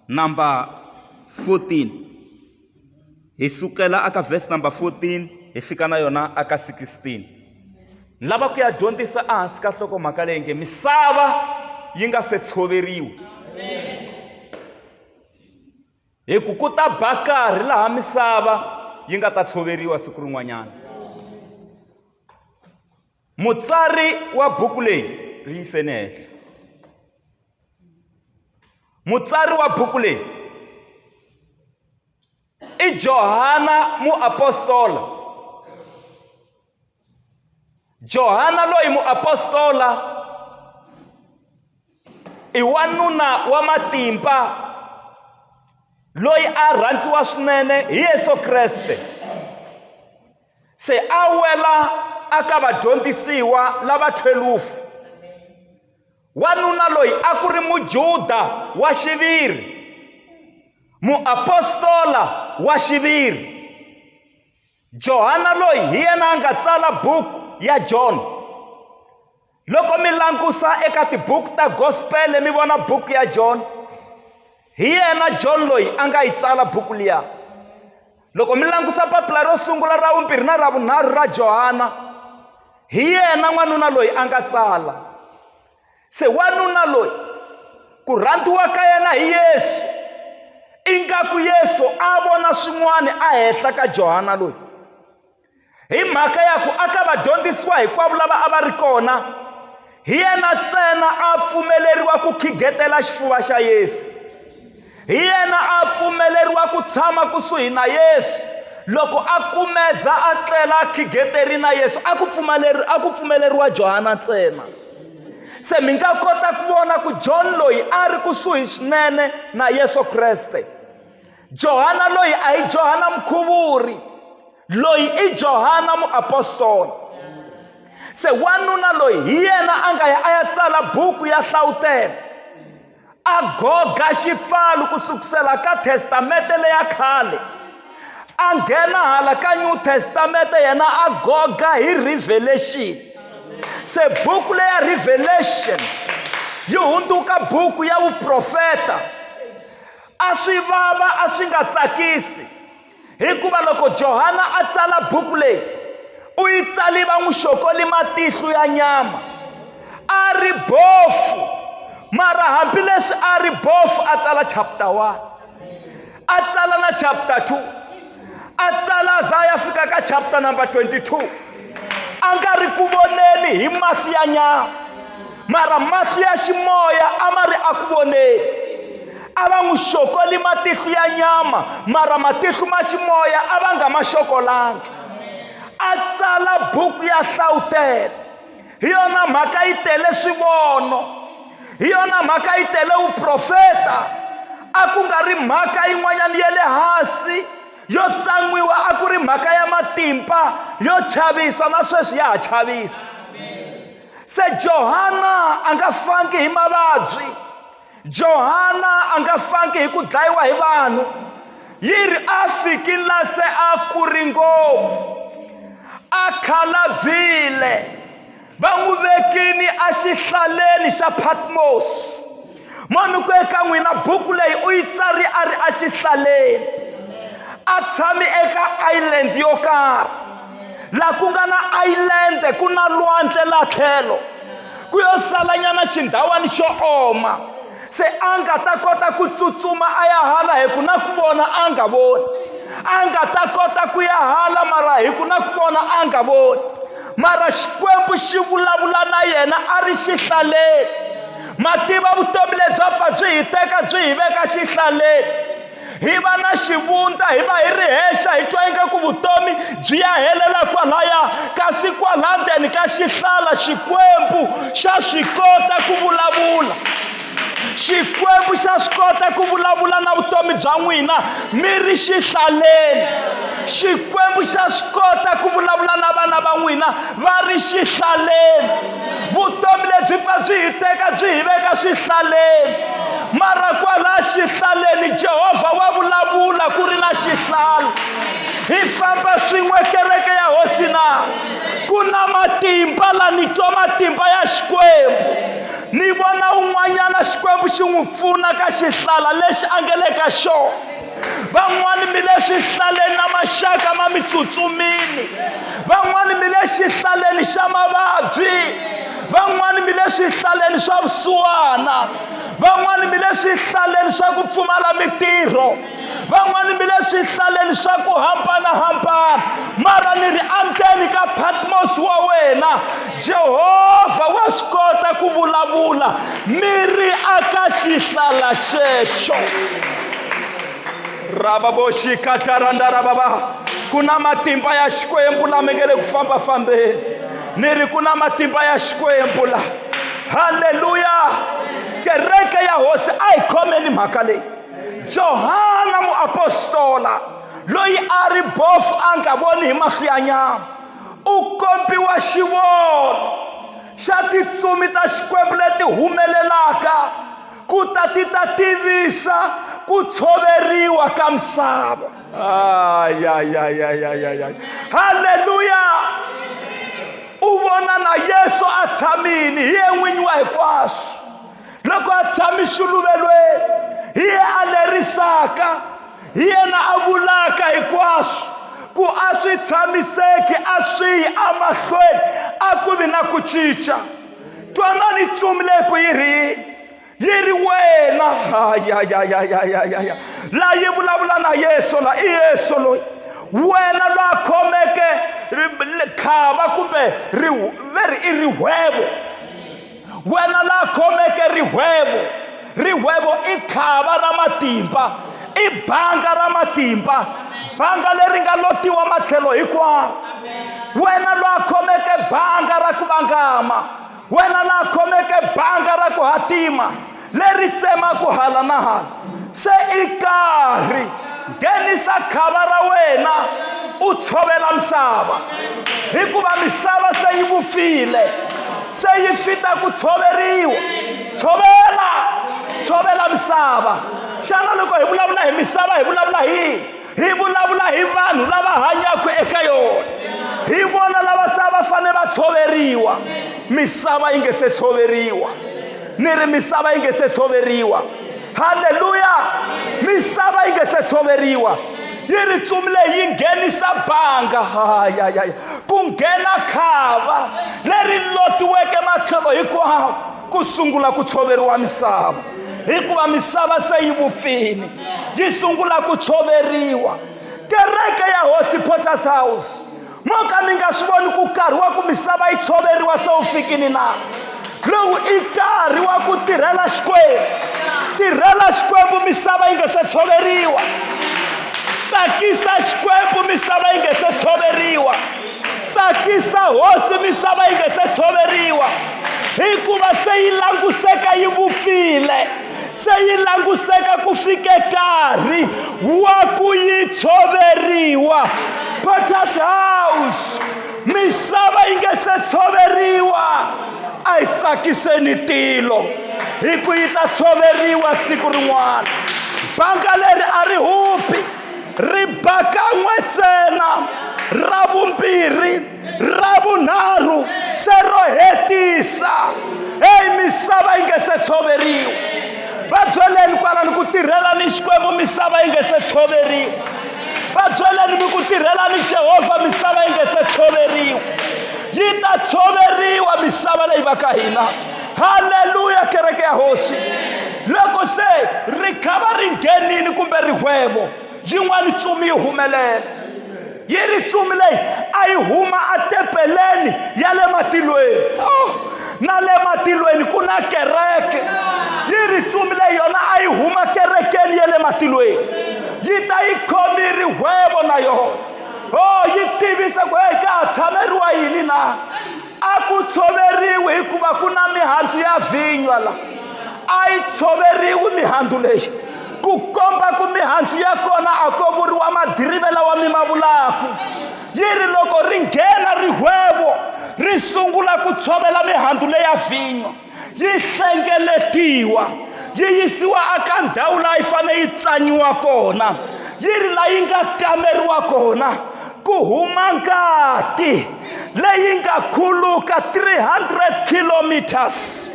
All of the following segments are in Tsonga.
number 14 hi sukela aka verse number 14 hi fika na yona aka 16 ni lava ku ya dyondzisa ehansi ka nhlokomhaka leyi nge misava yi nga se tshoveriwi hi ku ku ta ba karhi laha misava yi nga ta tshoveriwa siku rin'wanyana Mutsari wa buku leyi ri yiseni ehenhla. Mutsari wa buku leyi i Johana muapostola. Johana loyi muapostola i wanuna wa matimba loyi a rhandziwa swinene hi Yesu Kreste. se a wela aka vadyondzisiwa lava 12 wanuna loyi a ku ri mujuda wa xiviri muapostola wa xiviri johana loyi hi yena a nga tsala buku ya john loko mi langusa eka tibuku ta gospele mi vona buku ya john hi yena john loyi a nga yi tsala buku liya loko mi langusa papila ro sungula ra vumbirhi na ra vunharhu ra johana hi yena n'wanuna loyi a nga tsala se wanuna loyi ku rhandziwa ka yena hi yesu ingaku yesu a vona swin'wana a henhla ka johana loyi hi mhaka ya ku a ka vadyondzisiwa hinkwavo lava a va ri kona hi yena ntsena a pfumeleriwa ku khigetela xifuva xa yesu hi yena a pfumeleriwa ku tshama kusuhi na yesu loko a kumedza a tlela a khigeteri na yesu a ku pfumeleri a ku pfumeleriwa johana ntsena se mi nga kota ku vona ku john loyi a ri kusuhi swinene na yesu kreste Johana loyi a hi Johana mukhuvuri loyi i Johana muapostola se wanuna loyi hi yena a nga ya a ya tsala buku ya hlawutela a goga xipfalo ku sukusela ka testamente leya khale a nghena hala ka new testamente yena a goga hi revelation se buku leya revelation yi hundzuka buku ya vuprofeta a swi vava a swi nga tsakisi hikuva loko johana a tsala buku leyi u yi tsali va n'wi xokoli matihlo ya nyama a ri bofu mara hambileswi a ri bofu a tsala chapter one a tsala na chapter two a tsala za ya fika ka chapter number 22 a nga ri ku voneni hi mahlo ya nyama mara mahlo ya ximoya a ma ri a ku voneni a va n'wi xokoli matihlo ya nyama mara matihlo ma ximoya a va nga ma xokolangi a tsala buku ya hlawutela hi yona mhaka yi tele swivono hi yona mhaka yi tele vuprofeta a ku nga ri mhaka yin'wanyana ya le hansi yo tsan'wiwa a ku ri mhaka ya matimba yo chavisa na sweswi ya ha chavisa se johana a nga fangi hi mavabyi johana a nga fangi hi ku dlayiwa hi vanhu yi ri a fikile se a kuri ngopfu a khalabyile va n'wi vekini exihlaleni xa patmos munhu ku eka n'wina buku leyi u yi tsari a ri exihlaleni a tshami eka island yo karhi laha ku nga na island ku na lwandle laha tlhelo ku yo salanyana xindhawani xo oma se a nga ta kota ku tsutsuma a ya hala hi ku na ku vona a nga voni a nga ta kota ku ya hala mara hi ku na ku vona a nga voni mara xikwembu xi vulavula na yena a ri xihlaleni mativa vutomi lebyi a byi hi teka byi hi veka xihlaleni hi va na xivundza hi va hi ri hexa hi twa ingaku vutomi byi ya helela kwalaya kasi kwala ndzeni ka xihlala xikwembu xa swi kota ku vulavula xikwembu xa swi kota ku vulavula na vutomi bya n'wina mi ri xihlaleni xikwembu xa swi kota ku vulavula na vana va n'wina va ri xihlaleni vutomi lebyi pfa byi hi teka byi hi veka swihlaleni mara kwalaha xihlaleni jehovha wa vulavula ku ri na xihlalo hi famba swin'we kereke ya hosi na ku na matimba la ni twa matimba ya xikwembu ni vona un'wanyana xikwembu xi n'wi pfuna ka xihlala lexi a nge le ka xona van'wani mi le swihlaleni na maxaka ma mi tsutsumile van'wani mi le xihlaleni xa mavabyi van'wani mi le swihlaleni swa vusiwana van'wani mi le swihlaleni swa ku pfumala mitirho van'wani mi le swihlaleni swa ku hambanahambana mara ni ri amukeni ka patmos wa wena Jehovha wa swi kota ku vulavula mi ri aka xihlala xexo ravaboxikatarandarababa ku na matimba ya xikwembu lama nge le ku fambafambeni ni ri ku na matimba ya xikwembu la halleluya kereke ya hosi a yi khomeni mhaka leyi johana muapostola loyi a ri bofu a nga voni hi mahlo ya nyama u kombiwa xivono xa titsumi ta xikwembu leti humelelaka ku ta ti ta tivisa ku tshoveriwa ka misava halleluya u vona na yesu a tshamile hi ye n'winyi wa hinkwaswo loko a tshami xiluvelweni hi ye a lerisaka hi yena a vulaka hinkwaswo ku a swi tshamiseki a swi yi amahlweni a ku vi na ku cinca twanani tsumi leyi ku yi ri yi ri wena hayayayayayaya la yi vulavula na yesu la i yesu loyi wena la khomeke khava kumbe ri ve ri i rihwevo wena la khomeke rihwevo rihwevo i khava ra matimba i banga ra matimba banga leri nga lotiwa matlhelo hinkwawo wena la khomeke banga ra ku vangama wena la khomeke banga ra ku hatima leri tsemaku hala na hala se i karhi nghenisa khava ra wena u tshovela misava hikuva misava se yi vupfile se yi fita ku tshoveriwa tshovela tshovela misava xana loko hi vulavula hi misava hi vulavula hi yini hi vulavula hi vanhu lava hanyaka eka yona hi vona lava se va fanele va tshoveriwa misava yi nge se tshoveriwa ni ri misava yi nge se tshoveriwa halleluya misava yi nge se tshoveriwa yi ri tsumile yi nghenisa banga hayayaya ku nghena khava leri lotiweke matlhelo hinkwawo ku sungula ku tshoveriwa misava hikuva misava se yi vupfile yi sungula ku tshoveriwa kereke ya hosi porters house mo ka mi nga swi voni ku karhi wa ku misava yi tshoveriwa se wu fikini na lowu i nkarhi wa ku tirhela xikwembu tirhela xikwembu misava yi nga se tshoveriwa tsakisa xikwembu misava yi nga se tshoveriwa tsakisa hosi misava yi nga se tshoveriwa hikuva se yi languseka yi vupfile se yi languseka ku fike nkarhi wa ku yi tshoveriwa potter's house misava yi nga se tshoveriwa a yi tsakiseni tilo hi ku yi ta tshoveriwa siku rin'wana banga leri a ri hupi ri ba kan'we ntsena ra vumbirhi ra vunharhu se ro hetisa eyi misava yi nge se tshoveriwa va byeleni kwalani ku tirhela ni xikwembu misava yi nge se tshoveriwa va byeleni mi ku tirhela ni jehovha misava yi nge se tshoveriwa yi ta tshoveriwa misava leyi va ka hina haleluya kereke ya hosi loko se ri khava ri nghenini kumbe rihwevo yin'wani tsumi yi humelela yi ri tsumi leyi a yi huma atepeleni ya le matilweni oh, na le matilweni ku na kereke yi ri tsumi leyi yona a yi huma kerekeni ya le matilweni yi ta yi khomi rihwevo na yona o oh, yi tivisa ku heyi ka ha tshameriwa yini na a ku tshoveriwi hikuva ku na mihandzu ya vhinywa la a yi tshoveriwi mihandzu leyi ku komba ku mihandzu ya kona a ko vuriwa madirive lawa mi ma vulaku yi ri loko ri nghena rihwevo ri sungula ku tshovela mihandzu leya vhinywa yi hlengeletiwa yi yisiwa eka ndhawu laha yi fanele yi tswaniwa kona yi ri laha yi nga kameriwa kona ku huma ngati leyi nga khuluka 300 kilometers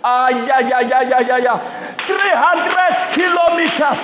ayayayayaya 300 kilometers